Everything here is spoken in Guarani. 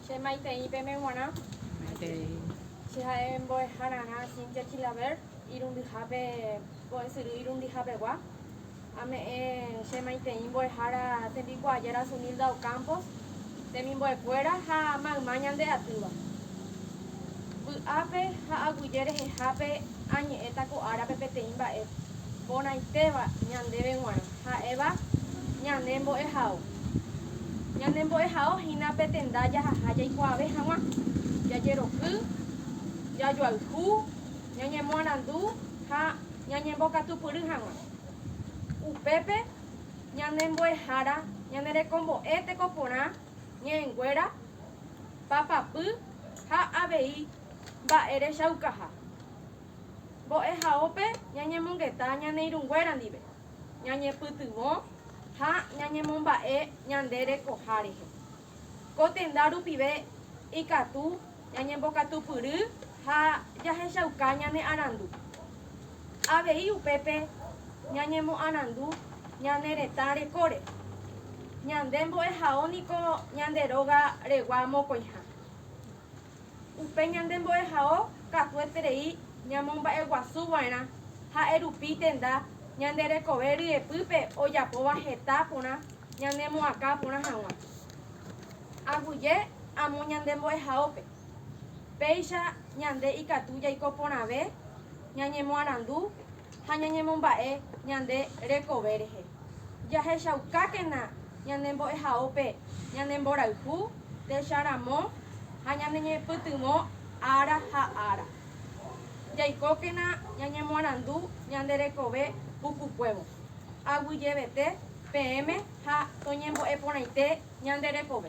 Che maitei peme g̃uarã. Maitei. Che ha'e mbo'eha rarã Cynthia Chilaver irundyhápe mbo'esyry irundihapegua. Ame'ẽ che maitei mbo'ehára tembikuaa Yara Sunilda Ocampos, temimbo'ekuéra ha mayma ñande atýva. Vy'ápe ha aguyje rehehápe añe'ẽta ko árape peteĩ mba'e porãitéva ñandéve g̃uarã, ha'éva ñane mbo'ehao. Ñanembo'ehao hína pe tenda jahaha jaikuaave hag̃ua, jajeroky, jajoayhu, ñañemoarandu ha ñañembokatupyry hag̃ua. Upépe ñane mbo'ehára ñanerekombo'e tekoporã ñe'ẽnguéra, papapy ha avei mba'e rechaukaha. Mbo'ehaópe ñañemongeta ñane irũnguéra ndive. ñañepytyvõ ha ñañemomba'e ñande rekoha rehe. Ko tenda rupive ikatu ñañembokatupyry ha jahechauka ñane arandu. Avei upépe ñañemoarandu ñane retã rekóre. Ñande mbo'ehao niko ñande róga regua mokõiha. Upe ñande mbo'ehao katueterei ñamomba'eguasu va'erã, ha'e rupi tenda ñande rekove ryepýpe ojapóva heta porã ñanemoakã porã hag̃ua. Aguyje amo ñande mbo'ehaópe, péicha ñande ikatu jaiko porãve ñañemoarandu ha ñañemomba'e ñande rekove rehe. Jahechaukákena ñane mbo'ehaópe ñane mborayhu techa ramo ha ñaneñepytyvõ ára ha ára. Jaikókena ñañemoarandu ñande rekove pukukuévo, aguyjevete peẽme ha toñembo'eporãite ñande rekove.